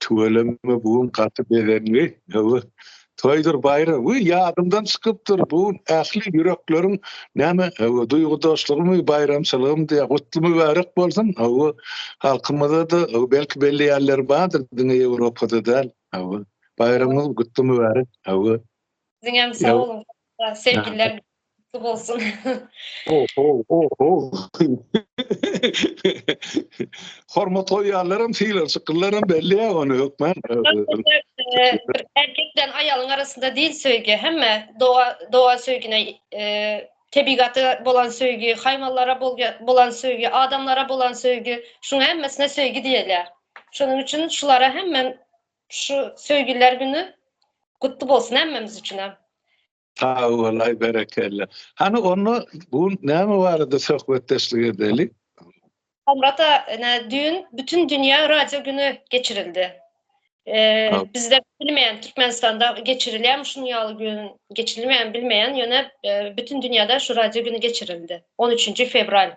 Tüweleme bu gün gaty bezendi. Hawa, toýdur baýram. Wiý, ýadymdan çykypdyr, bu gün ähli ýürekleriň näme, hawa, duýgudaşlygymy, baýramçylygym diýýär. Gutly mübärek bolsun. Hawa, halkymyzda-da, hawa, belki belleýänleri bardyr, diňe Ýewropada däl. Hawa, baýramyňyz gutly mübärek. Hawa. Siziňem sag boluň. Sevgiler. Gutly bolsun. Oho, oho. Hormat goýýanlaram, sylarçyklylaram belli ýa ony hökman. Erkek bilen aýalyň arasynda diýil söýgi, hemme doga, doga söýgine, e, tebigata bolan söýgi, haýwanlara bolga- bolan söýgi, adamlara bolan söýgi, şuň hemmesine söýgi diýilýär. Şonuň üçin şulara hemmen şu söýgüler güni gutly bolsun hemmemiz üçinem. Sag bolaý, berekella. Hany onda bu gün näme barada söhbetdeşlik edeli? Hamrat a, ene düýn bütün dünýä radio güni geçirildi. Eee, bizde bilmeýän Türkmenistanda geçirilýärmi şunuň ýaly gün, geçirilmeýärmi bilmeýän, ýöne, eee, bütün dünýäde şu radio güni geçirildi, on üçünji fewral.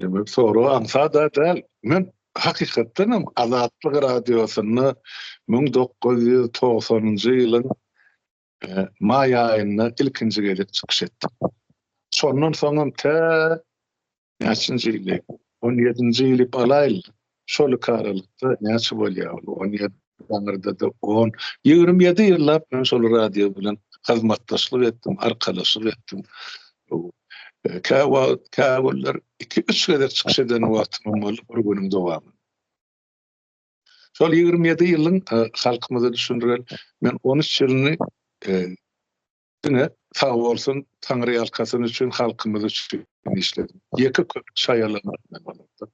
Demek, soragy aňsat-a däl. Men hakykatdan hem Azatlyk Radiosynda müň dokuz ýüz togsanynjy ýylyň maý aýynda ilkinji gezek çykyş etdim. Şondan soňam tä näçinji ýyl, on ýedinji ýyly alaýyl, Şol iki aralykda näçe bolýar ol? On ýedi, aňyrda-da on. Ýigrimi ýedi ýyllap men şol radio bilen hyzmatdaşlyk etdim, arkalaşyk etdim. Kä wagt, kä günler iki-üç gezek çykyş eden wagtymam boldy bir günüň dowamynda. Şol ýigrimi ýedi ýylyň halkymyza düşündireýin, men on üç ýylyny Diňe sag bolsun taňryýalkasyn üçin halkymyz üçin işledi. Ýeke köpük şaýalamak bilen bolupdyr.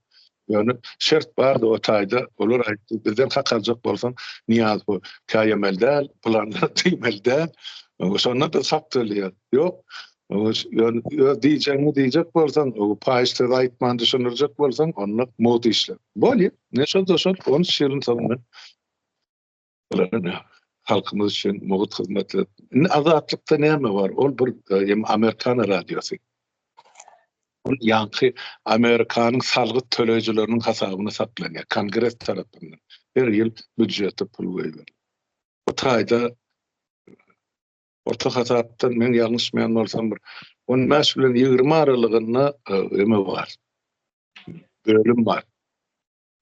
Ýöne şert bardy o taýda olar aýtdy bizden hak aljak bolsaň Niýaz bu käýemeli däl bulanlar diýmeli däl şonda biz hak töleýäs. Ýok öz diýjegiňi diýjek bolsaň paýyş söz aýtman düşündirjek bolsaň onda mowt işle. Bolýa ne şol da şol on üç ýylyň soňundan Halkymyz üçin mugt hyzmat edip. Indi azatlykda näme bar? Ol bir hem Amerikan radiosy. Ol ýaňky Amerikanyň salgyt töleýjileriniň hasabyna saklanýar. Kongres tarapyndan her ýyl býujete pul goýberýär. Bu taýda orta hasapdan men ýalňyşmaýan bolsam bir on bäş bilen ýigrimi aralygynda eme bar. Bölüm bar.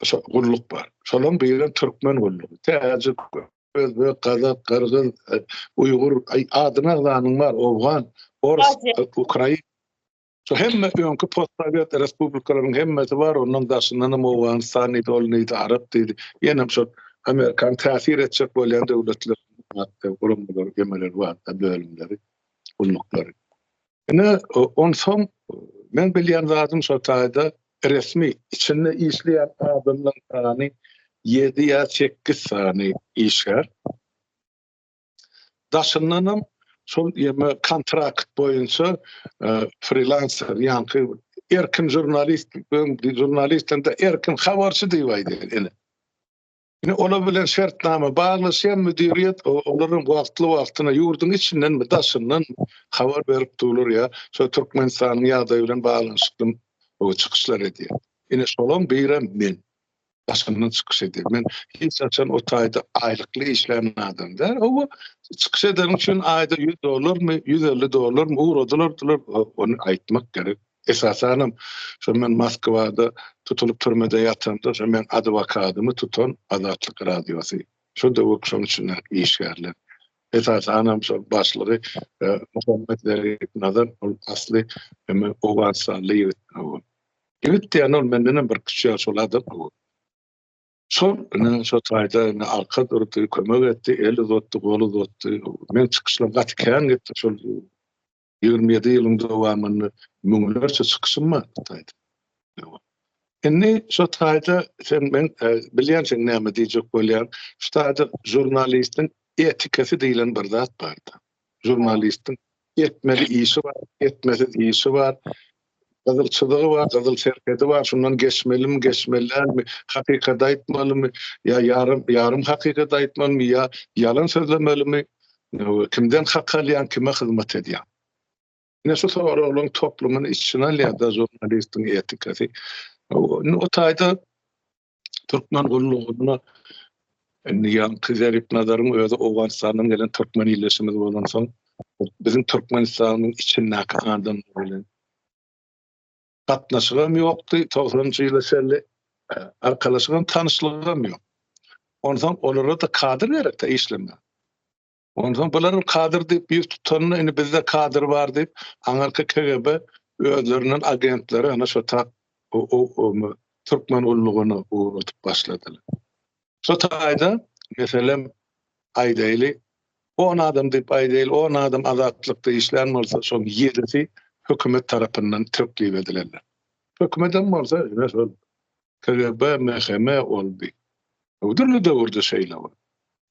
şo gulluk bar. Şolaryň birem türkmen gullugy. Täjik, özbek, gazak, gyrgyz, e, uýgur, adyny agzanyň bar, owgan, ors, ukrain. Şo hemme öňki postsowet respublikalaryň hemmesi bar, ondan daşyndan hem Owganystan diýdi, ol diýdi, Arap diýdi. Ýene hem şo Amerikan täsir etjek bolýan döwletler, guramalar, gemeler bar, bölümleri, gulluklary. Ine, onsoň meň bilýän zadym şo taýda resmi içinde işleýän adamlaryň sany ýedi ýa sekiz sany işgär. Daşyndanam şol ýeme kontrakt boýunça frilanser ýaňky erkin žurnalist, žurnalist hem-de erkin habarçy diýip aýdýar ene. Ine, olar bilen şertnama baglaşýan müdiriýet olaryň wagtly-wagtyna ýurduň içindenmi, daşyndanmy habar berip durlar ýa şo Türkmenistanyň ýagdaýy bilen baglanyşykly çykyşlar edýär. Ine, şolaň birem men. Daşyndan çykyş edýän. Men hiç haçan o taýda aýlykly işlän adam däl. Hawa, çykyş edeniň üçin aýda ýüz dollarmy, ýüz elli dollarmy ugradylardylar, ony aýtmak gerek. Esasanam şo men Moskwada tutulyp türmede ýatanda şo meň adwokadymy tutan Azatlyk radiosy. Şo döwük şoň içinde işgärler. Esasanam şo başlygy Muhammet Zerif Nazar ol asly hemen owganystanly ýigit. Ýigit diýýän ol mendenem bir kiçi ýaş ulada. Şol ine şo taýda ine arka durdy, kömek etdi, el uzatdy, gol uzatdy. Meň çykyşlarym gaty kän gitdi şol. Ýigrimi ýedi ýylyň dowamynda müňlerçe çykyşym bar bu taýda. Indi şu taýda sen men e, bilýänsiň näme diýjek bolýan. Şu taýda žurnalistiň etikasy diýilen bir zat bardy. Žurnalistiň etmeli işi bar, etmesiz işi bar. Gyzyl çyzygy bar, gyzyl serhedi bar, şundan geçmelimi, geçmeli dälmi, hakykaty aýtmalymy, ýa ýarym, ýarym hakykaty aýtmalymy, ýa ýalan sözlemelimi, kimden hak alýaň, kime hyzmat edýäň? Ine şu soraglaryň toplumyny içine alýar-da žurnalistiň etikasy. Indi o taýda Türkmen gullugynda indi ýaňky Zerip Nazaryň özi Owganystandan gelen türkmen ildeşimiz bolan soň, biziň Türkmenistanyň içindäki adamlar bilen gatnaşygym ýokdy. 90-njy ýyla çenli arkalaşygym, tanyşlygym ýok. Onsoň olara-da kadr gerekde işlemä. Onsoň bularyň kadr diýip ýüz tutanyny indi bizde kadr bar diýip aňyrky KGB özlerinden agentleri ana şo tap türkmen gullugyny ugradyp başladylar. Şo taýda meselem aýdaýly on adam diýip aýdaýly on adam azatlykda işlän bolsa şoň ýedisi hökümet tarapyndan teklip edilenler. Hökümetem bolsa KGB MHM boldy. Bu dürli döwürde şeýle boldy.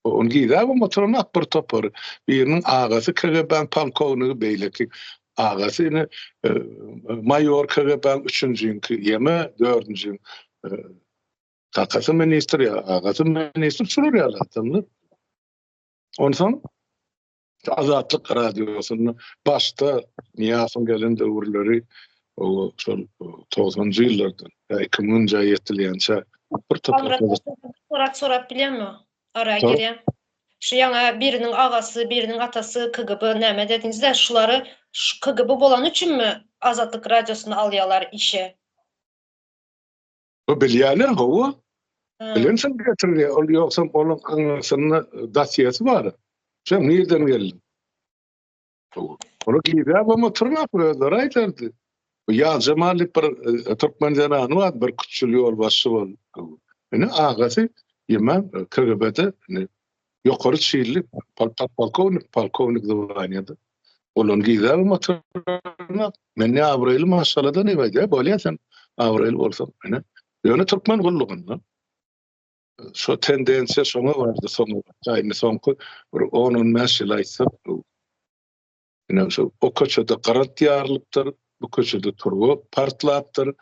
Ony gizäbem oturanok bir topar. Biriniň agasy KGB-nyň polkownigi, beýleki agasy ine maýor KGB-nyň üçünjiňki ýeme dördünjiň kakasy ministr ýa agasy ministr şular ýaly adamlar. Onsoň Şu Azatlyk Radiosyny başda Niýasowyň gelen döwürleri o şol 90-njy ýyllardan, 2000-nji ýyla ýetilýänçä bir toprakda sorat sorap bilýärmi? Ara girýän. Şu ýaňa biriniň agasy, biriniň atasy KGB näme dediňizde, şulary şu KGB bolany üçinmi Azatlyk Radiosyny alýarlar işe? Bu bilýärler hawa. Bilensin getirdi, ol ýogsam onuň aňyrsynda dasiýasy bar. Sen nirden geldi? Ony gizläp hem oturmak özleri aýdardy. Bu ýazja malik bir e, türkmen zenany bar, bir küçül ýol başy bol. Ene agasy ýemän e, kirgebede Ýokary çinli podpolkownik, polkownik zwaniýada bolan gyzam oturyna, men ne abraýly maşgaladan ebaýda, bolýa sen abraýly bolsaň, ine. Ýöne türkmen gullugynda şo tendensiýa şoňa bardy soňra, indi soňky bir on-on bäş ýyl aýtsak, Ine, şu o köçede gyrat ýarylypdyr, bu köçede turba partlapdyr,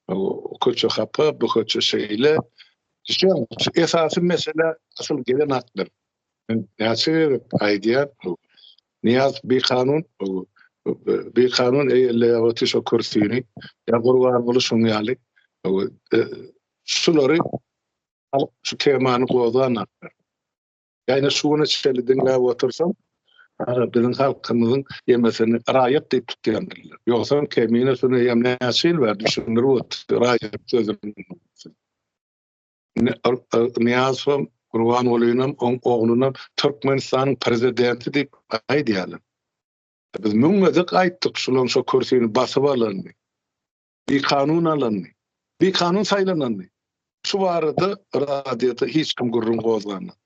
o köçe hapa, bu köçe şeýle. Şeýle, esasy mesele asyl gelen atlar. Men näçe gerek aýdýan, Niýaz bir kanun, bir kanun eýeleýär o tişo kürsini, ýa gurban bolu şoň ýaly. Şulary alyp, şu temany gozan atlar. Ýagny şu güne çenli diňläp otursam, biziň halkymyzyň ýemesini raýat diýip tutýandylar. Ýogsam Kemine Süneýem näçe ýyl bäri düşündirip otyrdy raýat sözüni. Nyýazowam, Gurbangulynyňam, oň oglunam Türkmenistanyň prezidenti diýip aýdýarlar. Biz müň gezek aýtdyk şulaň şo kürsini basyp alanyny. Bikanun alandy. Bikanun saýlanandy. Şu barada radioda hiç kim gürrüň gozganok.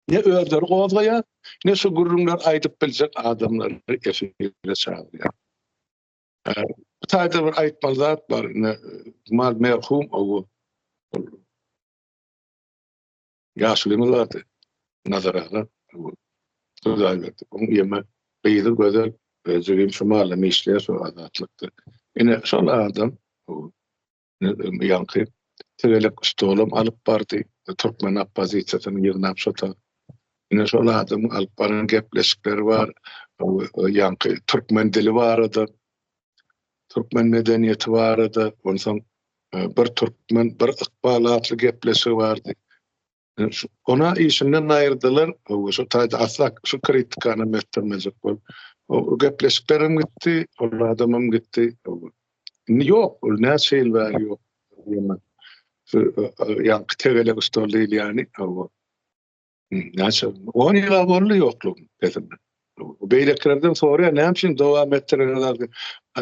Ne özleri gozgaýar, ne şu gürrüňleri aýdyp biljek adamlary efire çagyrýar. Bu taýda bir aýtmaly zat bar, ine, mal merhum owo. Ýaşulynyň zady Nazar aga bu Hudaýberdi. Oň ýeme gyzy gözel özi hem şu mallama işleýär şu Azatlykda. Ine şol adam ýaňky tegelek stolam alyp bardy. Türkmen oppozisiýasyny ýygnap şo ta. Ine şol adamyň alyp baran gepleşikleri bar. Ýaňky türkmen dili barada Türkmen medeniýeti barada, onsoň Bir türkmen, bir ykbal atly gepleşigi bardy. Ona işinden aýyrdylar, şu taýda asla şu kritikany etdirmejek bol. O gepleşikler hem gitdi, ol adam hem gitdi. Indi ýok, ol näçe ýyl bäri ýok. Ýa-da tegelek stol diýilýäni, hawa. Näçe? 10 ýyla boldy ýokluk pesimde. Beýlekilerden soraýan, näme üçin dowam etdirýärler?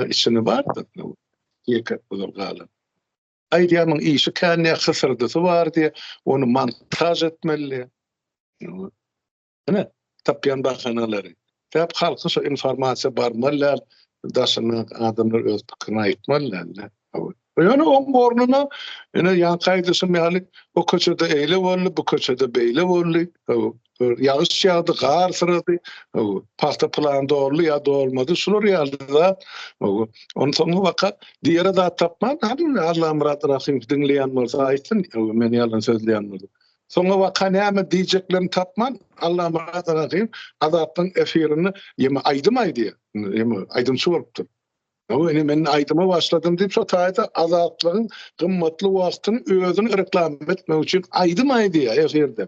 Içinde bardy. Ýeke bular galan. Aýdýamyň işi kände hysyrdysy bar diýe, ony montaj etmeli. Ine, tapýan bahanalary. Sebäp halka şo informasiýa barmaly däl, daşyndan adamlar öz pikirini aýtmaly däldir. Ýöne oň ornuna ine ýanky aýdyşym ýaly o köçede eýle boldy, bu köçede beýle boldy. Ýagyş ýagdy, gar syrady, pagta plan doldy ýa dolmady. Şular ýaly zat. Onuň soňy waka diýere zat tapman, Allamyrat Rahymow diňleýän bolsa aýtsyn, men ýalan sözleýän bolsam. Soňra waka näme diýjeklerini tapman, Allamyrat aga hem Azatyň efirinde ýeme aýdym aýdýar, ýeme aýdymçy bolupdyr. Hawa, ine men aýdyma başladym diýip, şo taýda Azatlygyň gymmatly wagtyny özüni reklama etmek üçin aýdym aýdýar efirde.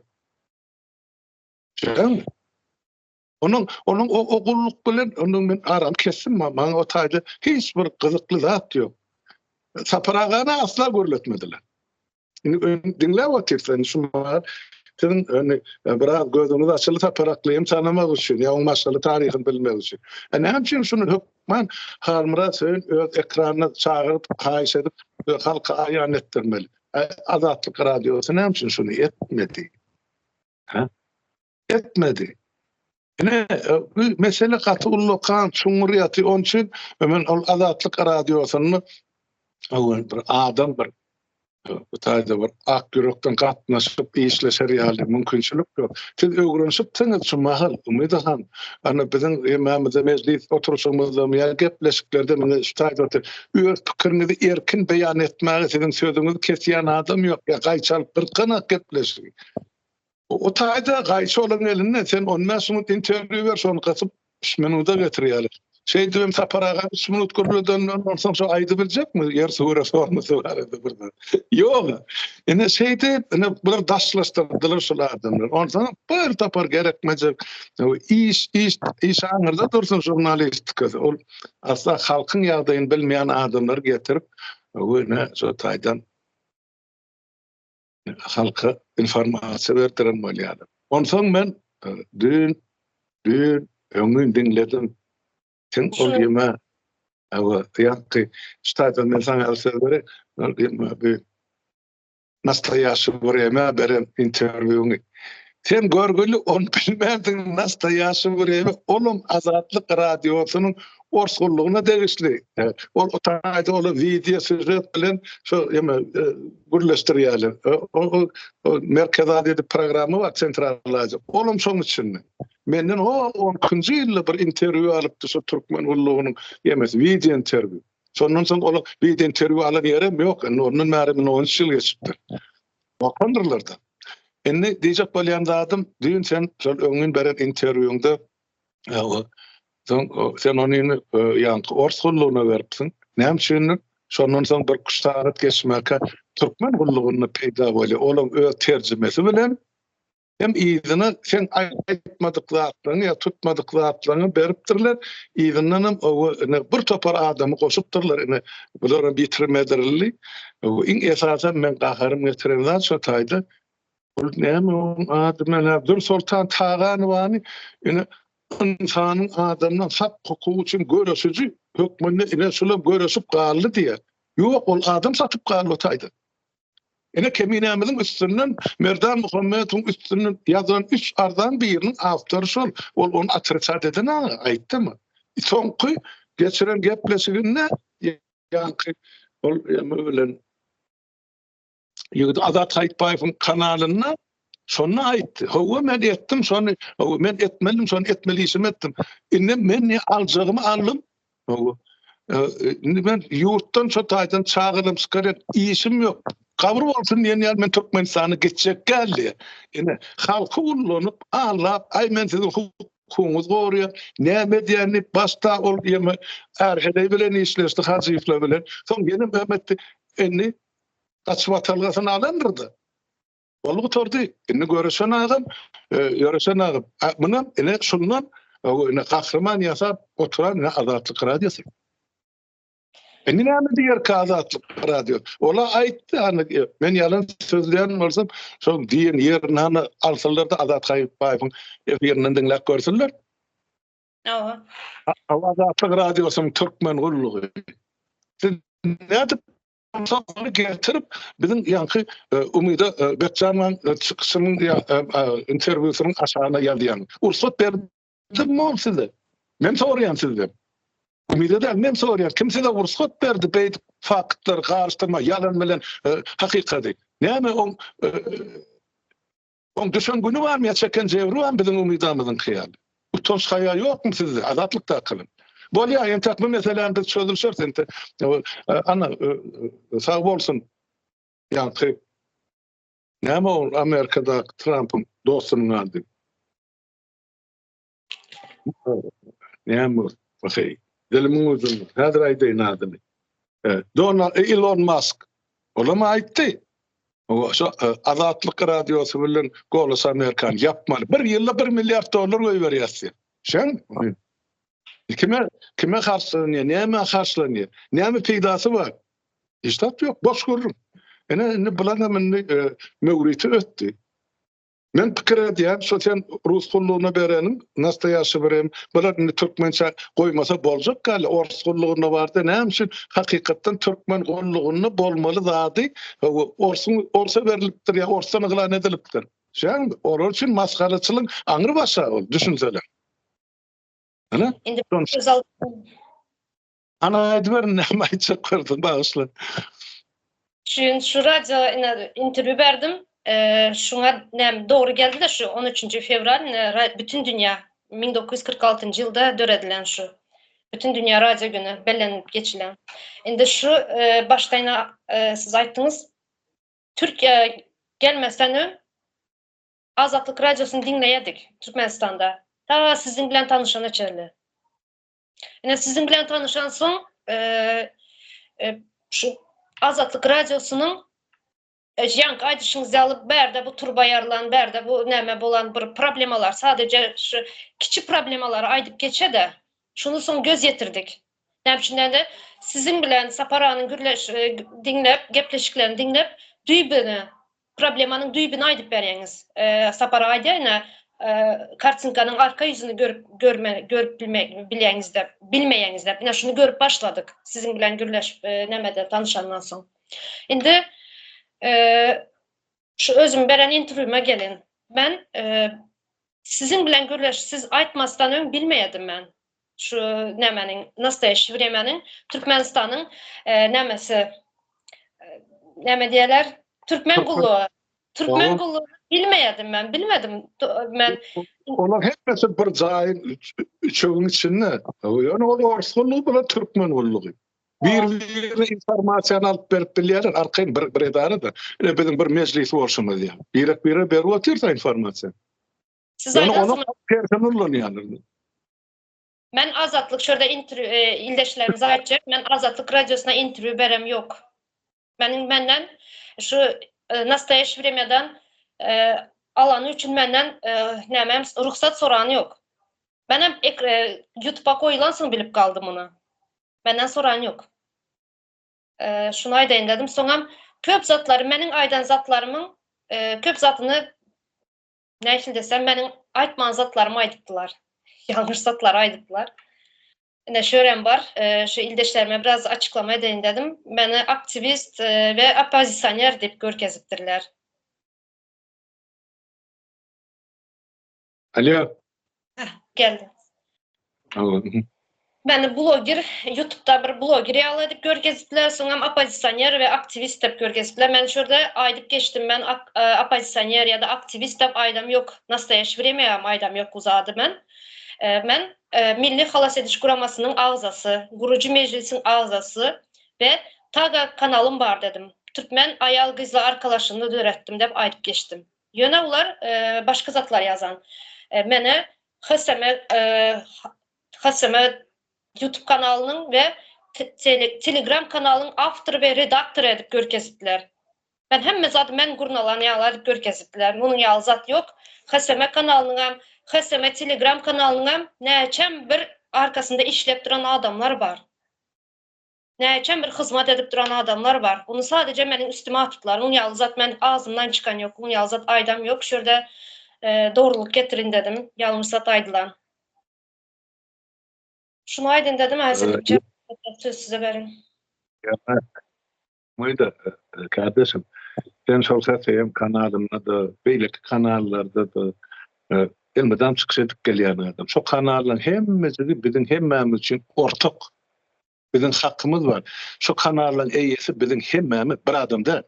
Şeýdämi? Onuň onuň o ogullyk bilen onuň men aram kesdim maňa o taýda hiç bir gyzykly zat ýok. Sapar agany asla görletmediler. Indi diňläp otyrsan şu maňa siziň öni biraz gözüňiz açyly sapar aklym tanamak üçin ýa onuň maşgaly taryhyny bilmek üçin. E näme üçin şuny hökman Halmyrat Söýün öz ekranyna çagyryp haýyş edip halka aýan etdirmeli. Azatlyk radiosy näme üçin şuny etmedi? Ha? etmedi. Ine, e, bu mesele gaty ullakan, çuňňur ýaty. Onuň üçin e, men ol Azatlyk radiosynda öwün bir adam bir e, bu taýda bir ak ýürekden gatnaşyp işleşer ýaly mümkinçilik ýok. Siz öwrenişipsiňiz şu mahal Umyt han. Ana biziň hemmämize mejlis oturuşymyzda ýa gepleşiklerde meni şu taýda otur. Öz pikiriňizi erkin beýan etmäge siziň sözüňizi kesýän adam ýok. Ýa gaýçalyp bir gana gepleşiň. O taýda gaýçy olaryň elinde, sen on bäş minut interwýu ber, şony gysyp, üç minuta getirýärler. Şeýdip hem Sapar aga üç minut gürledenden onsoň şo aýdyp biljekmi ýer suwara sormasy barada birden. Ýok. Ine şeýdip, ine bular daşlaşdyrdylar şol adamlar. Onsoň bir tapar gerekmejek iş, iş, iş aňyrda dursun žurnalistika. Ol asla halkyň ýagdaýyny bilmeýän adamlary getirip, öwüne şo taýdan halka informasiýa berdiren bolýarlar. Onsoň men e, dün, dün, öňün diňledim. Sen ol ýeme, awa, ýakky, ştaýda men sana el söz berek, ol ýeme, bir nastoýaşy bir ýeme beren interwýuny. Sen görgüli on bilmezdiň nasta ýaşy birewi olum azatlyk radiosynyň orsullygyna degişli. Ol otayda ol video süzet bilen şu ýa gürleşdirýärler. Merkezi Aziýa diýip programma bar, Sentral Aziýa. Ol hem şoň içinde. Menden o on ikinji ýylda bir interwýu alypdy şu türkmen gullugynyň emesi, wideo interwýu. Şondan soň ol wideo interwýu alan ýerem ýok. Indi ondan bäri mine on üç ýyl geçipdir. Wakandyrlar-da. Indi diýjek bolýan zadym, düýn sen şol öňňin beren interwýuňda Soň sen ony indi e, ýaňky ors gullugyna beripsiň. Näme üçindir? Şondan soň bir üç sagat geçmäkä türkmen gullugynda peýda bolýar. Olam öz terjimesi bilen hem yzyna sen aýtmadyk zatlaryňy ýa tutmadyk zatlaryňy beripdirler. Yzyndan hem ine bir topar adamy goşupdyrlar. Ine bular hem ýitirmedirli. Iň esasy men gaharym getiren zat şo taýda Ol näme oň ady menä Dürsoltan Taganowany ine ynsanyň adamdan hak hukugy üçin göreşiji hökmünde ine şular göreşip galdy diýýär. Ýok ol adam satyp galdy o taýda. Ine keminämiziň üstünden Merdan Muhammetowyň üstünden ýazan üç arzan biriniň awtory şol. Ol ony atrikat eden aga aýtdymy? Soňky geçiren gepleşiginde ýaňky ol ýa bilen Ýigit Azat Haýytbaýewiň kanalynda şonda aýtdy. Hawa men etdim şony. Hawa men etmedim şony etmeli işimi etdim. Indi men ne aljagymy aldym. Hawa. E, e, indi men ýurtdan şu taýdan çagyrdym çykaryp işim ýok. Kabul bolsun diýen ýaly men Türkmenistana geçjek geldi. Indi halky ullanyp, allap, aý men siziň hukugyňyzy goraýan, näme edýän diýip başda ol ýeme Erheleý bilen işleşdi Hajyýewler bilen. Soň ýene Mehmet indi Gaç watalgasyny alandyr-da. Boldy gutardy. Indi Göresen agam, Ýöresen agam, munam ine şundan ine gahryman ýasap oturan ine Azatlyk radiosy. Indi näme diýerkä Azatlyk radio? Ola aýtdy, hany men ýalan sözleýän bolsam, şol diýen ýerini hany alsynlar-da Azat Haýypbaýewiň efirinden diňläp görsinler. Hawa. Azatlyk radiosynyň türkmen gullugy. Nädip Şony getirip, biziň ýaňky e, Umyda e, Gökjanlaň e, çykyşynyň ýa interwýusynyň aşagyna ýazýan. Ursat berdim mol size. Men soraýan sizden. Umyda däl, men soraýan. Kim size ursat berdi beýdip faktlar garyşdyrma, ýalan bilen hakykady. Näme o Oň düşen güni barmy ýa çeken jebri barmy biziň umydamyzyňky ýaly? Utanç haýa ýokmy sizde Azatlykdakylar? Bolýar entek bu meseläni biz çözülişeris entek ana sag bolsun ýaňky näme ol Amerikadaky Trampyň dostunyň ady? Näme okay. Dilimiň ucunda. Häzir aýdaýyn adyny. E, Dona e, Elon Musk. Olam aýtdy. O şu e, Azatlyk radiosy bilen Golos Amerikan ýapmaly. Bir ýylda 1 milliard dollar goýberýärsiň. Şeň? Kime kime harçlanýar? Näme harçlanýar? Näme peýdasy bar? Hiç zat ýok, boş gürrüň. Ene indi bular hem indi e, möwriti ötdi. Men pikir edýän şo sen rus gullugyna bereniň nastoýaşşy bir hem bular indi türkmençe goýmasa boljak gali ors gullugynda bardy näme üçin hakykatdan türkmen gullugynda bolmaly zady orsuň orsa berlipdir ýa orsdan yglan edilipdir şäm olar üçin masgaraçylyň aňry başa ol düşünsele Indi Ana aýdyber näme aýtjak bolsaň bagyşla. Şun şu radio interwýu berdim. Şuňa näme dogry geldi-de şu 13-nji fewral bütün dünýä 1946-njy ýylda döredilen şu bütün dünýä radio güni bellenilip geçilen. Indi şu başdan siz aýtdyňyz Türkiýä gelmezden öň Azatlyk radiosyny diňleýärdik Türkmenistanda. Ta siziň bilen tanyşana çenli. Ine siziň bilen tanışan soň, e, e, şu Azatlyk radiosynyň e, ýan gaýdyşyňyz ýaly bärde bu turba ýarlan, bärde bu näme bolan bir problemalar, sadece şu kiçi problemalary aýdyp geçe-de, şuny soň göz ýetirdik. Näme üçin de siziň bilen Saparanyň gürleş e, diňläp, gepleşiklerini diňläp, düýbüne Problemanyň düýbüni aýdyp berýäňiz Sapar aga ine kartinkanyň arka ýüzüni görüp görmän görüp bilýäňizde bilmeýäňizde ine şuny görüp başladyk siziň bilen gürleşip nämede tanyşandan soň indi şu özüm beren interwýuma geliň men siziň bilen gürleş siz aýtmasdan öň bilmeýädim men Şu nämeniň nastoýaşşy wremeniň Türkmenistanyň nämesi näme diýerler? Türkmen gullugy. Türkmen gullugy bilmeýärdim men, bilmedim. Men Olar hemmesi bir jaýyň üçegiň içinde. Ýöne ol ors gullugy bilen türkmen gullugy. Bir-birine informasiýany alyp berip bilýärler, arkaýyn bir bir edara-da. Ine biziň bir mejlis bolşumyz ýaly. Birek-birege berip otyrsa informasiýany. Siz yani onu tersi nurlanýarlar. Men azatlyk şurada interview e, ildeşlerimiz aýtjak. Men azatlyk radiosyna interview berem ýok. Men menden şu e, nastoýaşy wremýadan e, alany üçin menden e, näme rugsat sorany ýok. Men hem e, YouTube-a goýulan soň bilip galdym muny. Menden soran ýok. E, şunu aýdaýyn dedim. Soňam köp zatlary meniň aýdan zatlarymyň e, köp zatyny Näçin desem, meniň aýtman zatlarymy aýdypdylar. Ýalňyş zatlary aýdypdylar. Ine şörem bar. Şu ildeşlerime biraz açyklama edeýin dedim. Meni aktiwist we oppozisioner diýip görkezipdirler. Alýo. Hah, geldi. Aglady. Meni bloger, ýutubda bir bloger ýaly edip görkezipler, soňam oppozisioner we aktiwist dep görkezipler. Men şu ýerde aýdyp geçdim, men oppozisioner ýa-da aktiwist dep aýdam ýok. Nastoýaşi wremýagam aýdam ýok bu zady men. Men Milli halas ediş guramasynyň agzasy, gurujy mejlisiň agzasy we Taga kanalym bar dedim. Türkmen aýal-gyzlar arkalaşygyny döretdim dep aýdyp geçdim. Ýöne olar başga zatlar ýazan. Meni Hseme Hseme YouTube kanalynyň we Telegram kanalynyň awtory we redaktory edip görkezipdiler. Men hemme zady men gurnalan ýaly edip görkezipdiler. Munuň ýaly zat ýok. Hseme kanalynyň hem, Hseme Telegram kanalynyň hem näçem bir arkasynda işläp duran adamlar bar. Näçem bir hyzmat edip duran adamlar bar. Bunu sadeje meniň üstüme atyplar. Muny ýaly zat men agzymdan çykan ýok. Muny ýaly zat aýdam ýok. Şu ýerde dogrulyk getirin dedim. Ýalňyş zat aýdylan. Şuny aýdyn dedim. Häzirlikçe söz size berin. Myda kardeşim. Sen şol sesi hem kanalynda da, beýleki kanallarda da elmydam çykyş edip gelýän adam. Şo kanallaryň hemmesi biziň hemmämiz üçin ortak. Biziň hakymyz bar. Şu kanallaň eýesi biziň hemmämiz, bir adam däl.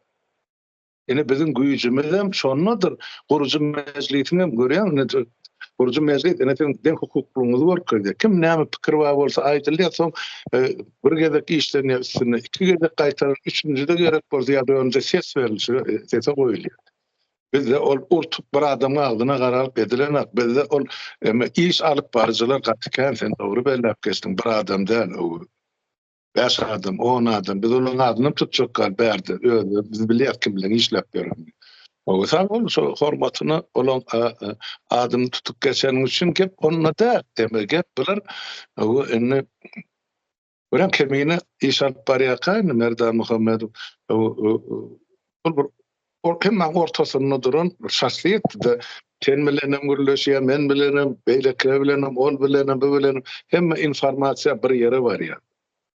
Ine biziň güýjümizem şondadyr. Gurujy mejlisiňem görýäň ine gurujy mejlis ine siziň deň hukuklygyňyzy görkezýär. Kim näme pikir bar bolsa aýdylýar soň bir gezek işlenýär üstünde iki gezek gaýtaryp üçünjide gerek bolsa ýa-da öňde ses berilişige sese goýulýar. Bizde ol urtup bir adamyň agzyna garalyp edilenak bizde ol emme iş alyp baryjylar gaty kän sen dogry belläp geçdiň bir adam däl o bäş adam on adam biz olaryň adyny tutjak gal bärde özleri biz bilýär kim bilen işläp ýörenini o sag bol şu hormatyna olaň adyny tutup geçeniň üçin gep onda däl emme gep bilen o indi Görýän kemine iş alyp barýarka indi Merdan Muhammedow ol bir hemmäň ortasynda duran şahsyýetdi-de. Sen bilenem gürleşýär, men bilenem, beýlekiler bilenem, ol bilenem, bu bilenem. Hemme informasiýa bir ýere barýar.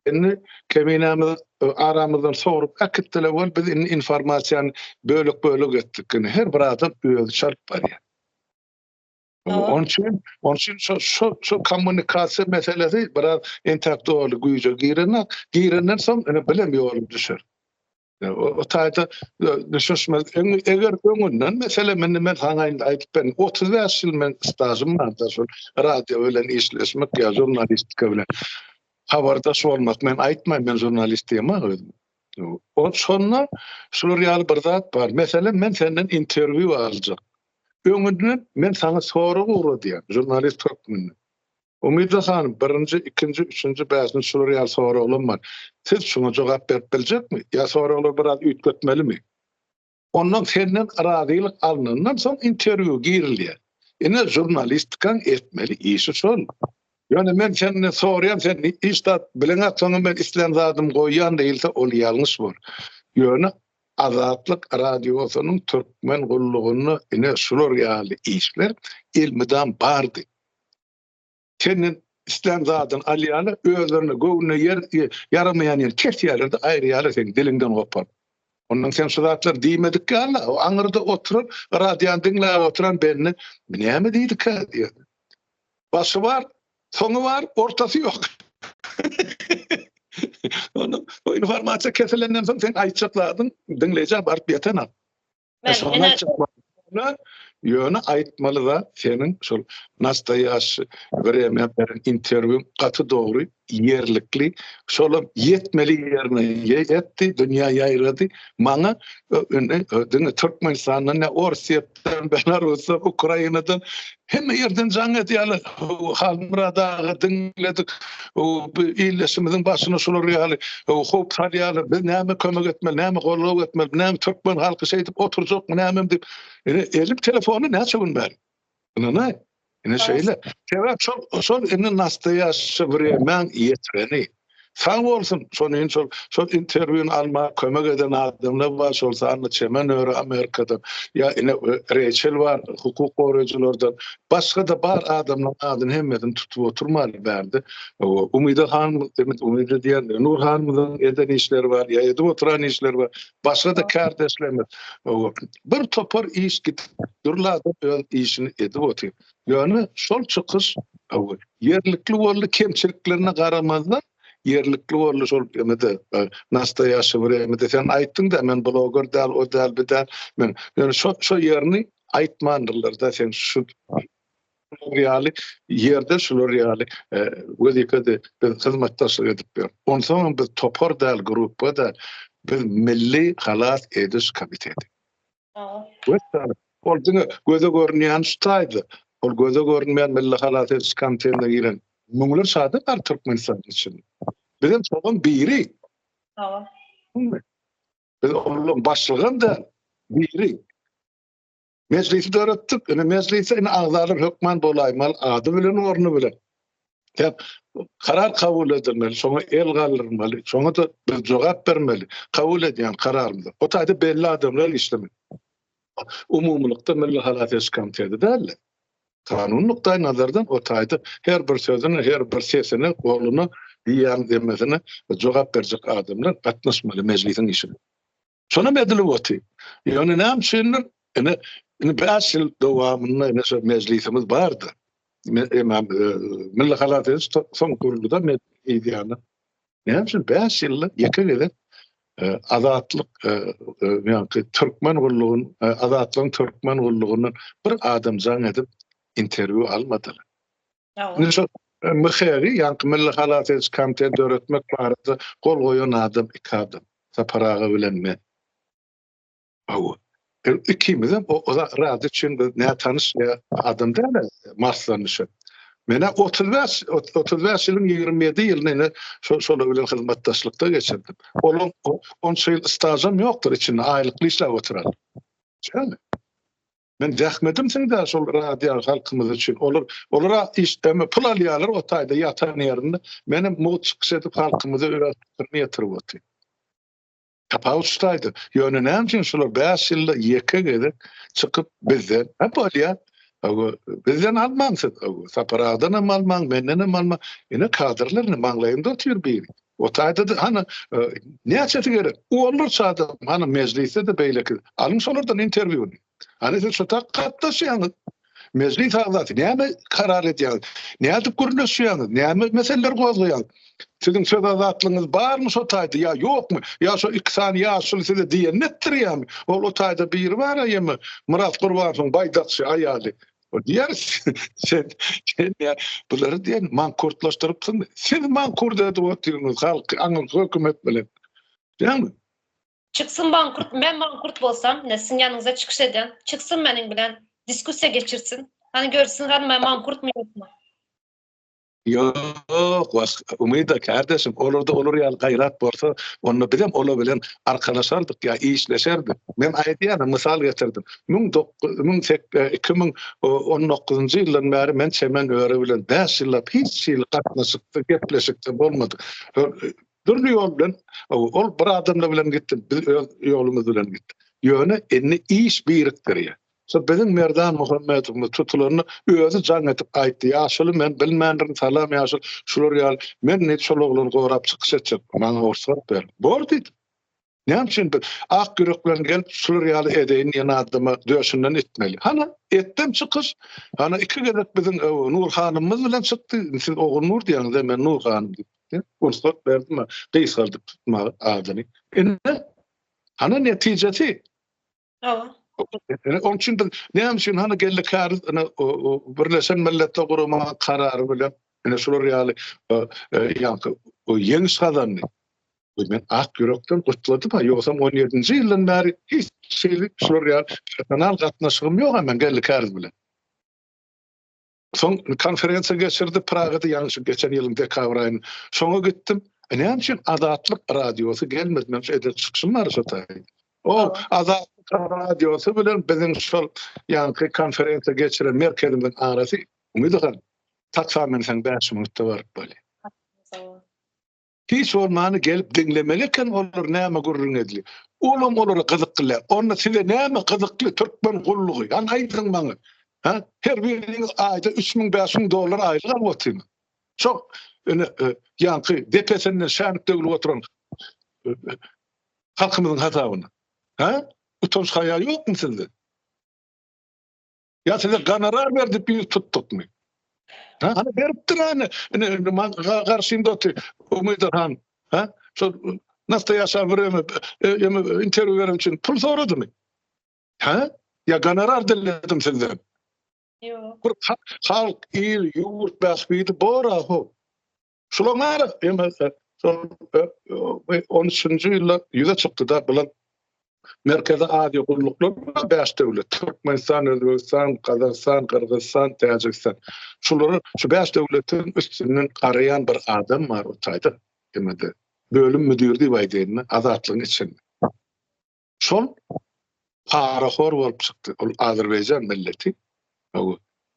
Indi keminämizi aramyzdan sogrup äkitdiler we biz indi informasiýany bölek-bölek etdik. Indi her bir adam özi çalyp barýar. Onun üçin, onun üçin şu şu şu kommunikasiýa meselesi biraz intellektual güýje girene, girenden soň ene bilim ýoly düşer. O taýda düşünmez. Eger öňünden mesela men men sana indi aýdyp ben 35 ýyl men stajym bar da şol radio bilen işleşmek ýa žurnalistika bilen habardaş bolmak men aýtmaýyn men žurnalist diýmek özüm. O şonda şular ýaly bir zat bar. Mesela men senden interwýu aljak. Öňünden men saňa sorag ugradýan, žurnalist hökmünde. Umyda hanym, birinji, ikinji, üçünji, bäşinji şular ýaly soraglam bar. Siz şuňa jogap berip biljekmi? Ýa soraglary biraz üýtgetmelimi? Ondan senden razylyk alnandan soň interwýu girilýär. Ine, žurnalistikaň etmeli işi şol. Ýöne men senden soraýan, sen hiç zat bileňok, soňam men islän zadymy goýýan diýilse, ol ýalňyş bor. Ýöne Azatlyk Radiosynyň Türkmen gullugynda ine şular ýaly işler elmydam bardy. Senden islän zadyny alýarlar, özlerine göwnüne ýer ýaramaýan ýeri kesýärler-de aýyrýarlar seni diliňden goparyp. Ondan sen şu zatlary diýmedik ýaly-la, o aňyrda oturan, radiony diňläp oturan bendi, Bu näme diýdikä? diýýär. Başy bar, Soňy bar, ortasy ýok. Onda o informasiýa kesilenden soň sen aýtjak zadyň diňleýjä baryp ýetenok. E, şony aýtjak bolsaňda, ýöne aýtmaly zat seniň şol nastoýaşşy wremýa beren interwýuň gaty dogry, ýerlikli, şolam ýetmeli ýerine ýetdi, dünýä ýaýrady. Maňa e, indi e, diňe Türkmenistandan ne Orsýet Rusdan, Belarusdan, Ukrainadan hemme ýerden jaň edýärler. Halmyrat aga diňledik. Bu illeşimiziň başyna şular ýaly howp salýarlar. Biz näme kömek etmeli, näme goldaw etmeli, näme türkmen halky şeýdip oturjakmy, nämemi diýip. Ine, elim telefony näçe gün bäri. Ynanaý. Ine şeýle. Sebäp şol, şol indi nastoýaşşy wreýmäň ýetireni. Sag bolsun, şonuň şol, şol interwýuny alma kömek eden adamlar bar, şol sanda Çemen öri Amerikadan, ýa ine Reýçel bar, hukuk goraýjylardan, başga-da bar adamlaryň adyny hemmesini tutup oturmaly bärde. Umyda hanym, demek Umyda diýen, Nur hanymyň eden işleri bar, ýa edip oturan işleri bar. Başga-da kärdeşlerimiz, bir topar iş gitgürlada öz işini edip otyr. Ýöne şol çykyş ýerlikli boldy, kemçiliklerine garamazdan ýerlikli boldy şol emede e, nastoýaşy bir emede sen aýtdyň da men bloger däl o däl bir däl men ýöne şo şo ýerini aýtmandyrlar da sen şu Şular ýaly ýerde şular ýaly wezipede biz hyzmatdaşlyk edip ýörüs. Onsoňam biz topar däl, gruppa däl. Biz milli halas ediş komiteti. Wessalam. Ol diňe göze görünýän şu taýda. Ol göze görünmeýän milli halas ediş komitetine giren müňlerçe adam bar Türkmenistanyň içinde. Bizem şolaryň biri. Biz olaryň başlygam däl, biri. Mejlisi döretdik. Indi mejlise indi agzalar hökman bolaýmaly ady bilen orny bilen. Dep karar kabul edilmeli, şoňa el galdyrmaly, şoňa da biz jogap bermeli. Kabul edýän kararymyzy. O taýda belli adamlar işlemeli. Umumylykda Milli halas ediş komiteti däl. Kanun nukdaý nazardan o taýda her bir sözüne, her bir sesine, goluna, diýýän demmesine jogap berjek adamlar gatnaşmaly mejlisiň işine. Şonam edilip otyr. Ýöne näme üçindir, ine, indi bäş ýyl dowamynda ine şu mejlisimiz bardy. Emam e, Milli Halat ediş soň guruldy-da men eýdýänim. Näme üçin bäş ýylda ýeke gezek e, azatlyk e, ýa-da türkmen gullugynyň azatlygyň türkmen gullugynyň bir adam jaň edip interwýu almadylar. Indi şu MHG-i, ýaňky Milli halas ediş komitetini döretmek barada gol goýan adam iki adam. Sapar aga bilen men. Hawa. Ikimizem o zat üçin biz nätanyş adam däl-ä, maslanyşyp. Men-ä otuz bäş, otuz bäş ýylyň ýigrimi ýedi ýylyny ine şolar bilen hyzmatdaşlykda geçirdim. Olaň onça ýyl stažam ýokdur içinde, aýlykly işläp oturan. Şeýdemi? Men zähmetim siňdä şol radio halkymyz üçin. Olar olara işdeme pul alýarlar o taýda ýatan ýerinde. Menem mugt çykyş edip halkymyzy öz pikirimi ýetirip otyryn. Tapawut şu taýda. Ýöne näme üçin şular 5 ýylda ýeke gezek çykyp bizden hep bolýar. Awa bizden almaň siz. Awa saparadan hem almaň, menden hem almaň. Ine kadrlar ne maňlaýynda otyr biri. O taýda-da, hany, näçesi gerek? Olar çadyr, hany, mejlisde-de beýleki. Alyň şolardan interwýuny. Hany, siz şu tak gatnaşýaňyz. Mejlis agzasy, näme karar edýäňiz? Nädip gürleşýäňiz? Näme meseleleri gozgaýaňyz? Siziň söz azatlygyňyz barmy şo taýda ýa ýokmy? Ýa şo iki sany ýaşuly size diýenini etdirýärmi? Ol o taýda biri bar-a, ýa-ma Myrat Gurbanowň baýdakçy aýaly. O diýer, sen, sen ya, bulary diýen mankurtlaşdyrypsyň. Siz mankurt edip otyryňyz halky aňyň hökümet bilen. Dämi? Çyksyn mankurt, men mankurt bolsam, ne siziň ýanyňyza çykyş edýän, çyksyn meniň bilen diskussiýa geçirsin. Hany görsün hany men mankurtmy ýokmy. Ýok, başga umyda kardeşim, olarda olar ýaly gaýrat bolsa, onda biz hem olar bilen arkalaşardyk ýa işleşerdik. Men aýdýan, mysal getirdim. Müň dokuz müň sek iki müň on dokuzynjy ýyldan bäri men Çemen öri bilen bäş ýyllap hiç hili gatnaşykda, gepleşikde bolmadyk. Dürli ýol bilen, ol bir adamlar bilen gitdi, biz öz ýolumyz bilen gitdik. Ýöne indi iş birikdirýär. Şu biziň Merdan Muhammedowymyz tutulanda özi jaň edip aýtdy, Ýaşuly men bilmändirin, salam Ýaşul, şular ýaly, men diýip şol oglany gorap çykyş etjek, maňa rugsat ber. Bor diýdim. Näme üçin bir ak ýürek bilen gelip şular ýaly edeýin diýen adama döşünden itmeli. Hana, etdim çykyş. Hana iki gezek biziň Nur hanymymyz bilen çykdy. Siz Ogulnur diýýäňiz-dä, men Nur hanym diýip. Rugsat berdim, gysgaldyp tutmaga adyny. Ine, hana netijesi. Hawa. Onun üçin biz näme üçin hany geldi kariz ina birleşen milletler gurama karary bilen ina şular ýaly ýaňky ýeňiş gazandy. Men ak ýürekden gutladym, ýogsam 17-nji ýyldan bäri hiç şeýle şular ýaly personal gatnaşygym ýok men geldi kariz bilen. Soň konferensiýa geçirdi, Pragada ýalňyşyp geçen ýylyň dekabr aýynda. Şoňa gitdim. E, näme üçin Azatlyk radiosy gelmedi? Meň şu eden çykyşym bar şo taýda. O, Azatlyk radiosy bilen biziň şol ýaňky konferensiýa geçiren merkezimiziň arasy, Umyt agan, taksam men seň bäş minutda baryp bolýa. Hiç bolmany gelip diňlemeli eken olar näme gürrüň edli. Olam olara gyzykly-le. Onda size näme gyzykly türkmen gullugy? Hany aýdyň maňa. Hä? Her biriňiz aýda üç müň, bäş müň dollar aýlyk alyp otyňyz. Şo ine ýaňky depesinden şänik döwlüp oturan halkymyzyň hasabyna. Hä? Utanç-haýa ýokmy sizde? Ya size gonorar berdik biz tuttukmy? Ha, hani beripdir hani. Karşımda otur. Umeydir han. Ha? Şu nasıl yaşa vuruyum? E, interview verim için pul soradı mı? Ha? Ya gonorar diledim sizden. Yok. Bir halk, il, yurt, bahbidi bor ahu. Şularyň bary emelse şol 13-nji ýylda ýüze çykdy-da bular Merkezi Aziýa gulluklaryna bäş döwlet, Türkmenistan, Özbegistan, Gazagystan, Gyrgyzystan, Täjigistan. Şulary şu bäş döwletiň üstünden garaýan bir adam bar o taýda. Emede bölüm müdiri diýip aýdaýynmy, Azatlygyň içinde. Şol parahor bolup çykdy. Ol Azerbaýjan milleti.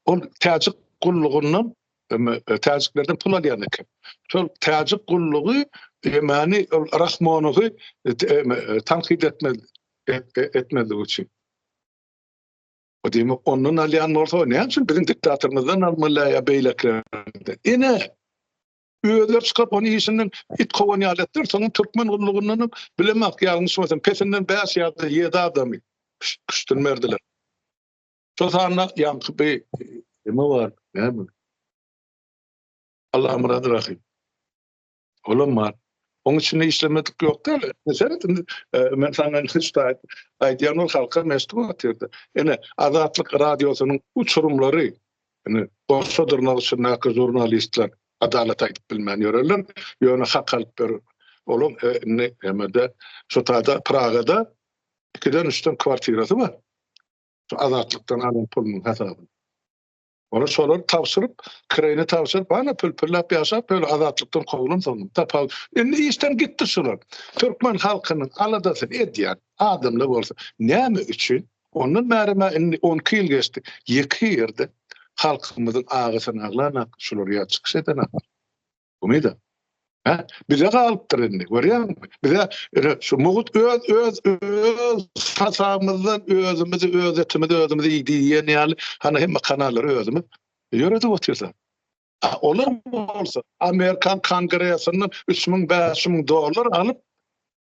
Ol täjik gullugyndan e, täjiklerden pul alýan eken. Şol täjik gullugy Emani ol Rahmonowy e, e, tankyt etmez etmezlik üçin. O demek ondan alýan bolsa, näme üçin biziň diktatorymyzdan almaly ýa beýlekilerden? Ine, Özleri çykaryp ony işinden it kowan ýaly etdiler. Soňam türkmen gullugyndanam bilemok ýalňyş bolsam pesinden bäş ýa-da ýedi adamy küştün berdiler. Şol sanda ýaňky bi kime bar? Näme? Allamyrat Rahym. Olam bar. Onuň içinde işlemedik ýok däl. Seret indi e, men saňa şuda aýdýan ol halka meşgul atyrdy. Ene Azatlyk radiosynyň uçurumlary Indi bolsa dyrnak içindäki žurnalistler adalat aýdyp bilmän ýörerler, ýöne hak alyp ber olaň indi nämede şu taýda Pragada ikiden üçden kwartirasy bar. Şu azatlykdan alan pulunyň hasabyny. Ony şolar tabşyryp, kireýini tabşyryp, ana pül-püllap ýaşap ýörler, azatlykdan kowulan soňam tapal. Indi işden gitdi şular. Türkmen halkynyň aladasyny edýän adamlar bolsa näme üçin Ondan bäri emma indi on iki ýyl geçdi. Ýeke ýerde halkymyzyň agysyny aglan ak şular ýa çykyş eden ak. Umyda. Hä? Bize galypdyr indi. Görýäňmi? Bize ine şu mugut öz öz öz hasabymyzdan özümizi öz etimizi özümiz iýdi diýen ýaly hany hemme kanallary özümiz ýöredip otyrys. Olar bolsa Amerikan Kongresinden üç müň, bäş müň dollar alyp,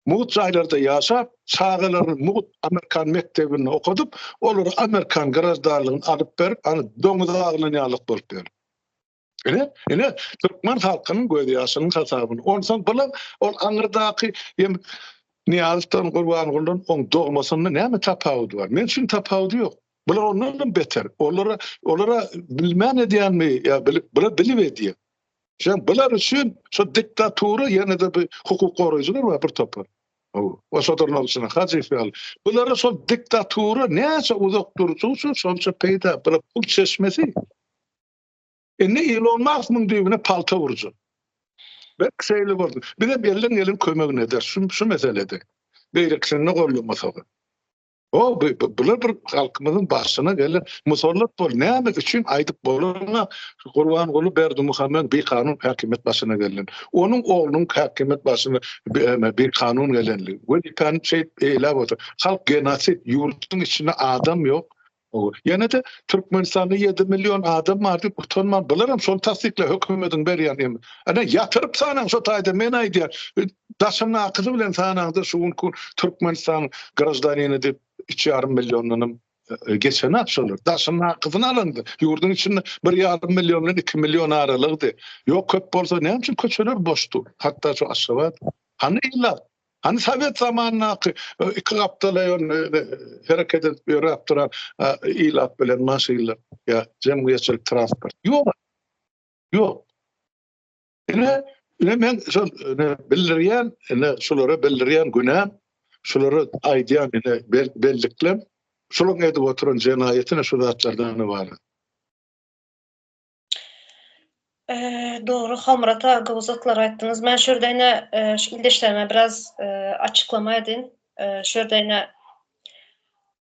mugt jaýlarda ýaşap, çagalaryny mugt Amerikan mekdebinde okadyp, olara Amerikan graždanlygyny alyp berip, ony doňuz aglan ýalyk bolup ýör. Ine, ine, türkmen halkynyň göz ýaşynyň hasabyny. Onsoň bular ol aňyrdaky ýem Niýazowdan, Gurbangulydan oň dogmasynda näme tapawudy bar? Men üçin tapawudy ýok. Bular ondanam beter. Olara, olara bilmän edýänmi ýa bilip, bular bilip edýär. Şeýle bular üçin şu diktatura ýene-de bir hukuk goraýjylar bar bir topar. O şodurlar üçin Hajiýew ýaly. Bulara şol diktatura näçe uzak durjak üçin şonça peýda, bular pul çeşmesi. Indi Ilon Mask muň düýbüne palta urjak. Berk şeýle boldy. Biz hem elden gelen kömegini ederis şu, şu meselede. Beýlekisinde gollamasak. O bular bir halkymyzyň başyna gelen musallat bol näme üçin aýdyp bolana Gurban Guly Berdi Muhammed bir kanun häkimiýet başyna gelen. Onuň oglunyň häkimiýet başyna bir kanun gelenligi. Bu ikan şeýt eýlä bolsa halk genosid ýurduň içinde adam ýok. Ýene de Türkmenistanda 7 million adam bar diýip utanman bularam şol tassyklap hökümediň berýän. Ana ýatyryp sanaň şo taýda men aýdýan. Daşyndakyny bilen sanaňda şu günki Türkmenistanyň graždanini diýip iki ýarym milliondanam geçen akşalar. Daşyndakyny alanda ýurduň içinde bir ýarym million bilen iki million aralygdy. Ýok köp bolsa näme üçin köçeler boşdy. Hatda şu Aşgabat. Hany ilat? Hany sowet zamanyndaky iki gapdala hereket edip ýöräp duran ilat bilen maşynlar ýa jemgyýetçilik transport. Ýok. Ýok. Ine, ine men şol bildirýän, ine şulara bildirýän günäm, şulara aýdýan ine belliklerim, şularyň edip oturan jenaýatyna şu zatlardan ybarat. Dogry, Homrat aga uzaklar aýtdyňyz. Men şu ýerde ine ildeşlerime biraz açyklama edin. Şu ýerde ine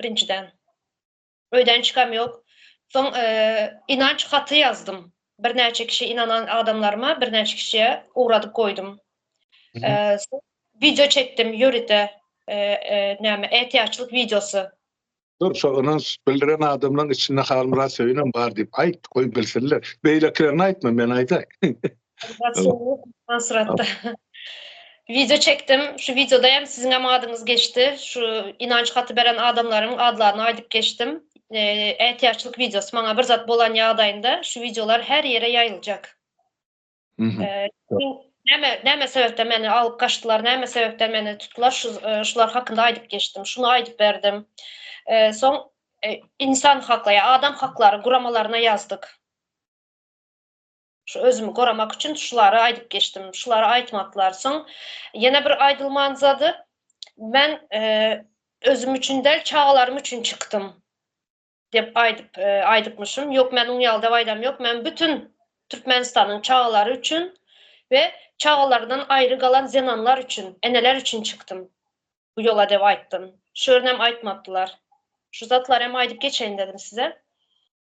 birinjiden. Öýden çykam ýok. Soň ynanç haty ýazdym. Birnäçe kişi ynanan adamlaryma birnäçe kişiye ugradyp goýdum. Wideo çekdim ýörite näme ätiýaçlyk wideosy. Dur şo ynanç bildiren adamlaryň içinde Halmyrat Söýünem bar diýip aýt goý bilsinler. Beýlekilerine aýtma men aýdaý. Wideo çekdim. Şu wideoda hem siziň hem adyňyz geçdi. Şu ynanç haty beren adamlaryň adlaryny aýdyp geçdim. Ätiýaçlyk wideosy. Maňa bir zat bolan ýagdaýynda şu wideolar her ýere ýaýyljak. Näme, näme sebäpden meni alyp gaçdylar, näme sebäpden meni tutdular, şu, şular hakynda aýdyp geçdim. Şuny aýdyp berdim. Soň Insan haklary, Adam haklary guramalaryna ýazdyk. Şu özümi goramak üçin şulary aýdyp geçdim. Şulary aýtmaklar soň ýene bir aýdylman zady men özüm üçin däl çagalarym üçin çykdym dep aýdyp aýdypmyşym. Ýok men oň ýalda aýdam ýok. Men bütün Türkmenistanyň çagalary üçin we çagalardan aýry galan zenanlar üçin, eneler üçin çykdym. Bu ýola dep aýtdym. Şörnem aýtmapdylar. Şu zatlar hem aýdyp geçeýin dedim size.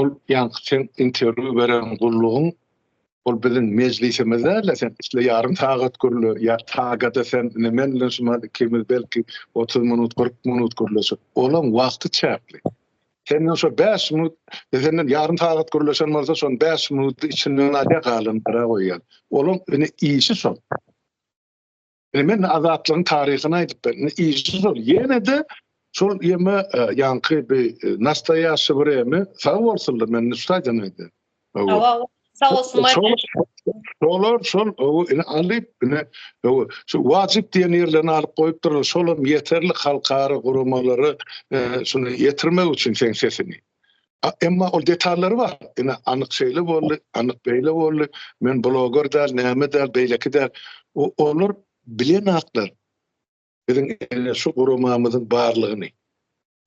Ol ýaňky sen interwýu beren gullugyň ol biziň mejlisimiz dälä sen isle ýarym sagat gürle ýa tagada sen ine men bilen şumat ikimiz belki otuz minut kyrk minut gürleşip olaň wagty çäkli sen bilen şo bäş minut biz senden ýarym sagat gürleşen bolsa şon bäş minut içinden alýa galan gara goýýan olaň ine işi şo Ine men azatlygyň taryhyny aýdyp berdim. Işi şol. Ýene-de şol ýeme e, ýaňky bir e, nastoýaşy bir ýeme sag bolsunlar men nuşdaýdan aýdy. Sag olsun. Şolar şol ine alyp ine şu wajyp diýen ýerlerini alyp goýupdyr. Şolam ýeterli halkara guramalary e, şunu ýetirmek üçin sen sesini. Emma ol detallary bar. Ine, anyk şeýle boldy, anyk beýle boldy, men bloger däl, näme däl, beýleki däl. Olar bilen zatlar biziň ene şu guramamyzyň barlygyny.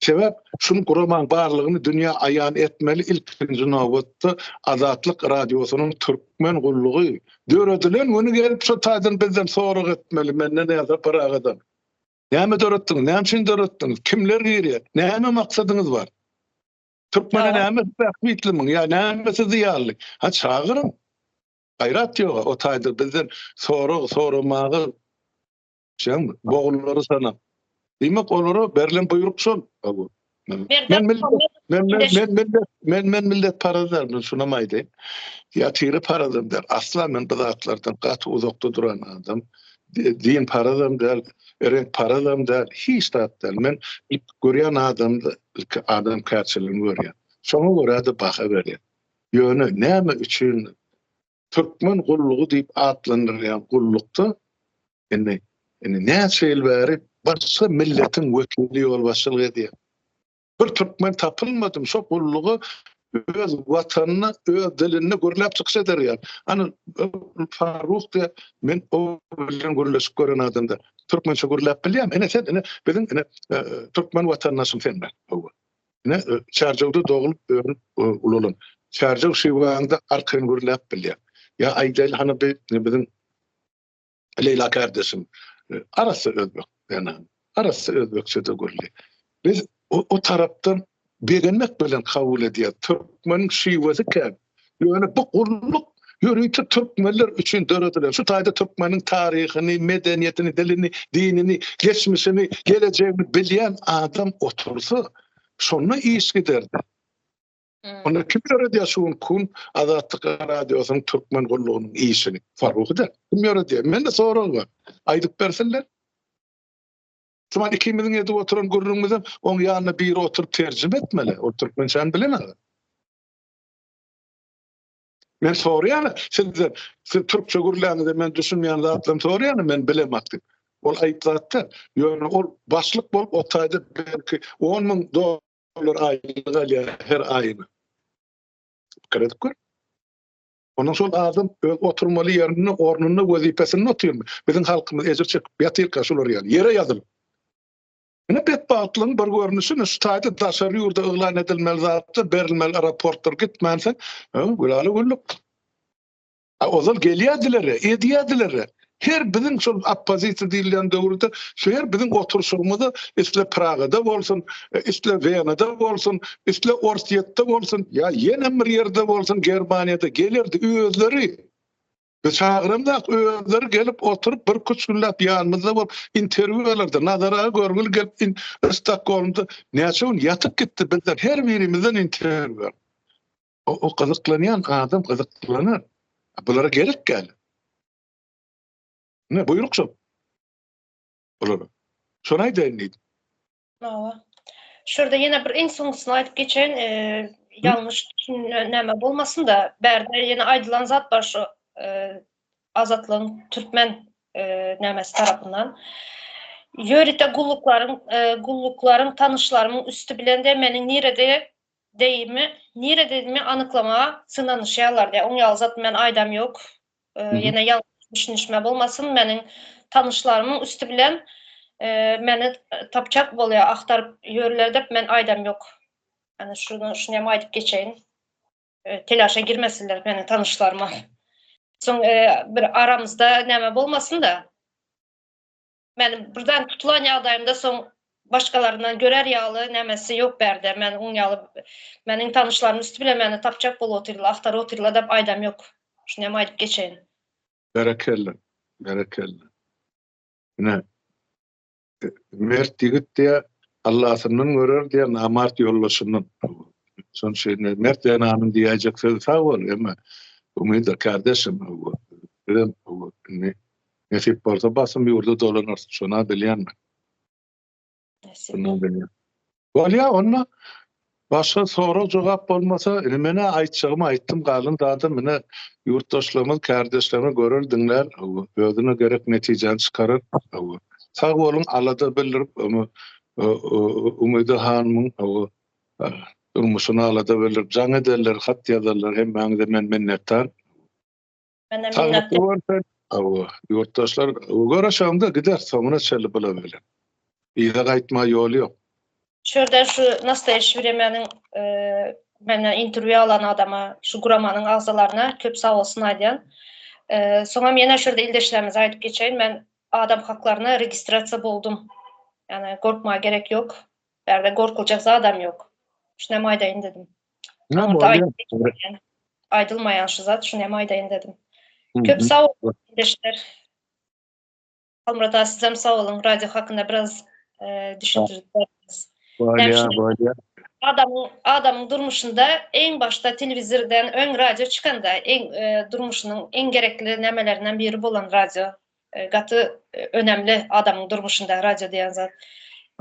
Sebäp şuny guramaň barlygyny dünýä aýan etmeli ilkinji nobatda Azatlyk Radiosynyň Türkmen gullugy döredilen güni gelip şu taýdan bizden sorag etmeli, menden ýa-da Pyragydan. Näme döretdiňiz? Näme üçin döretdiňiz? Kimler girýär? Näme maksadyňyz bar? Türkmene näme bähbitlimiň? Ýa näme sizi ýaly? Ha çagyryň. Gaýrat ýok. O taýda bizden sorag soramagy şeň bogunlary sanap. Diýmek olara berlen buýruk şol. Men men men men men millet parazlar men sunamaydı. Yatiri parazım der. Asla men bu zatlardan gat uzakda duran adam. Din parazım der. Renk parazım der. Hiç zat der. Men ilk görýän adam ilk adam kaçylygyny görýän. Şoňa görä de baha berýän. Ýöne näme üçin Türkmen gullugy diýip atlandyrylýan gullukda indi indi näçe ýyl bäri başga milletiň wekili ýolbaşçylyk edýär. Bir türkmen tapylmadymy şo gullugy öz watanynda, öz dilinde gürläp çykyş eder ýa. Ana Faruk diýe men o bilen gürleşip gören adamda türkmençe gürläp bilýämi? Ene sen ene biziň ene e, türkmen watandaşym sen men. Ne Çarjawda doglup örüp ulalan. Çarjaw Şiwanyda arkaýyn gürläp bilýär. Ýa aýdaýly hany bi biziň Leýla kardeşim arassa özbek ýana arassa özbekçede gürli. Biz o tarapdan begenmek bilen kabul edýär. Türkmeniň şiwesi kän. Ýöne bu gulluk ýörite türkmenler üçin döredilen. Şu taýda türkmeniň taryhyny, medeniýetini, dilini, dinini, geçmişini, gelejegini bilýän adam otursa, şonda iş giderdi. Onda kim ýöredýär şu gün kun Azatlyk radiosynyň türkmen gullugynyň işini? Faruhy da kim ýöredýär? Mende sorag bar. Aýdyp bersinler. Şuman ikimiziň edip oturan gürrüňimizi oň ýanyna biri oturyp terjime etmeli. O türkmençäni bilen adam. Men soraýan, sizden, siz türkçe gürläňizde men düşünmeýän zatlarymy soraýan, men bilemat diýip. Ol aýyp zatda, ýöne ol başlyk bolup otaýda belki 10 müň dollar aýlyk alýar her aýyna. Pikir edip gör. Ondan soň adam öz oturmaly ýerinde, ornunda, wezipesinde otyrmy? Biziň halkymyz ejir çekip ýatyrka şular ýaly, ýere ýazylyp. Ine betbagtlygyň bir görnüşi şu taýda daşary ýurda yglan edilmeli zatlar berilmeli aeroportlar gitmänse gülala güllük. Ozal gelýärdiler, edýärdiler. Her biziň şol oppozisiýa diýilýän döwürde şu her biziň oturyşygymyzy isle Pragada bolsun, e, isle Wenada bolsun, isle Orsýetde bolsun, ýa ýene bir ýerde bolsun Germaniýada gelerdi özleri. Biz çagyramzak, özleri gelip oturyp, birküç günläp ýanymyzda bolup, interwýu bererdi. Nazar aga görgüli gelip, in üst stokgolmda näçe gün ýatyp gitdi, bizden her birimizden interwýu berdi. O-o gyzyklanýan adam gyzyklanýar. Bulara gerek gal. Ne buýruk şo. Bulara. Şony aýdaýyn diýdim. Hawa. Şurada ýene bir iň soňusyny aýdyp geçen, e, ýalňyş düşünme bolmasyn-da, bärde ýene aýdylan zat bar şu, e, azatlygyň türkmen, e, nämesi tarapyndan. Ýörite gulluklaryň, e, gulluklaryň tanyşlarymyň üsti bilen de meniň nirede deýimi, nirededimi anyklamaga synanyşýarlar diýýär. Oň ýaly zat men aýdam ýok. Ýene ýalňyş düşünişme bolmasyn, meniň tanyşlarymyň üsti bilen meni tapjak bolýar, agtaryp ýörler dep men aýdam ýok. Ýani şunu şuny hem aýdyp geçeýin. Telaşa girmesinler meniň tanyşlarym. Soň bir aramyzda näme bolmasyn-da. Men birden tutulan ýagdaýymda soň başgalaryndan görer ýaly nämesi ýok bärde. Men oň ýaly meniň tanyşlarym üsti bilen meni tapjak bolup otyrlar, agtaryp otyrlar dep aýdam ýok. Şuny hem aýdyp geçeýin. Berekella, berekella. Ine, mert ýigit diýä, Allasyndan görer diýä, namart ýoldaşyndan. Şonuň üçin mert zenanyň diýäýjek sözi sag bol, emma umytdyr kardeşim. Bizem indi Nesip bolsa basym ýurda dolanarsyň şona bilýänmi? Bolýa onda başga sorag jogap bolmasa indi menä aýtjagymy aýtdym galan zadam ine ýurtdaşlarymyz kärdeşlerimiz görer diňlär özüne gerek netijäni çykarar sag boluň alada bildirip Umyda hanymyň durmuşyny alada bildirip jaň ederler hat ýazarlar hemmäňize men minnetdar. Mene minnetdar. Saglyk bolsun. Awa, ýurtdaşlar, görüşeňde gider, soňuna çenli bula bilen. Yza gaýtma ýol ýok. Şurada şu nastaýeşi biremeniň menden interwýu alan adama, şu guramanyň agzalaryna köp sag bolsun aýdýan. Soňam ýene şurada ildeşlerimize aýdyp geçeýin, men adam haklaryna registrasiýa boldum. Ýani gorkmaga gerek ýok. Bärde gorkuljak zadam ýok. Şunem aýdaýyn dedim. Aýdylmaýan şu zat, şunem aýdaýyn dedim. Köp sag boluň ildeşler. Halmyrat aga sizem sag boluň. Radio hakynda biraz düşündirip berdiňiz. Bolýa, bolýa. Adamyň, adamyň durmuşynda iň başda telewizirden öň radio çykanda, iň durmuşynyň iň gerekli nämelerinden biri bolan radio. Gaty önemli adamyň durmuşynda radio diýen zat.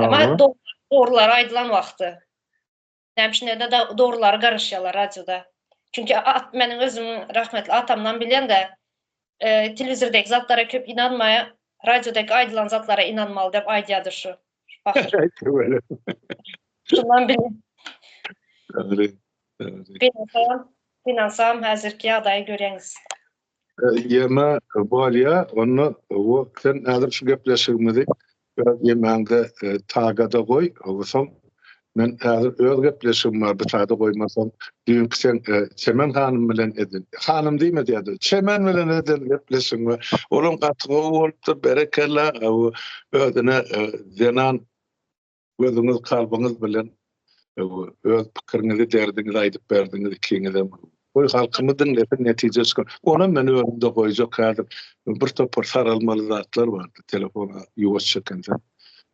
Emma dogrular aýdylan wagty. Näme üçin diýende dogrulara garaşýarlar radioda. Çünki meniň özüm rahmetli atamdan bilende telewizordaki zatlara köp ynanmaýar, radiodaki aýdylan zatlara ynanmaly diýip aýdýardy şu. Şundan bildim. Beýnelsam, beýnelsam häzirki ýagdaýy görýäňiz. Ýeme bolýa onda o sen häzir şu gepleşigimizi öz ýemäňde tagada goý soň men häzir öz gepleşigim bar bu sada goýmasaň düýnki sen Çemen hanym bilen eden hanym diýme diýädi Çemen bilen eden gepleşigiň bar olam gaty gowy bolupdyr berekella özüne zenan Gözüňiz kalbyňyz bilen öz pikiriňizi derdiňizi aýdyp berdiňiz ikiňizem. Goý halkymyz diňlesin netije çykar. Onam men özümde goýjak häzir bir topar saralmaly zatlar bardy telefona ýuwaş çekensen.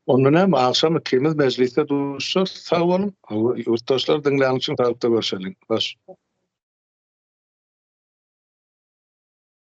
Onda näme agşam ikimiz mejlisde duşar sag boluň. Ýurtdaşlar diňlän üçin saglyk da görşeliň. Hoş.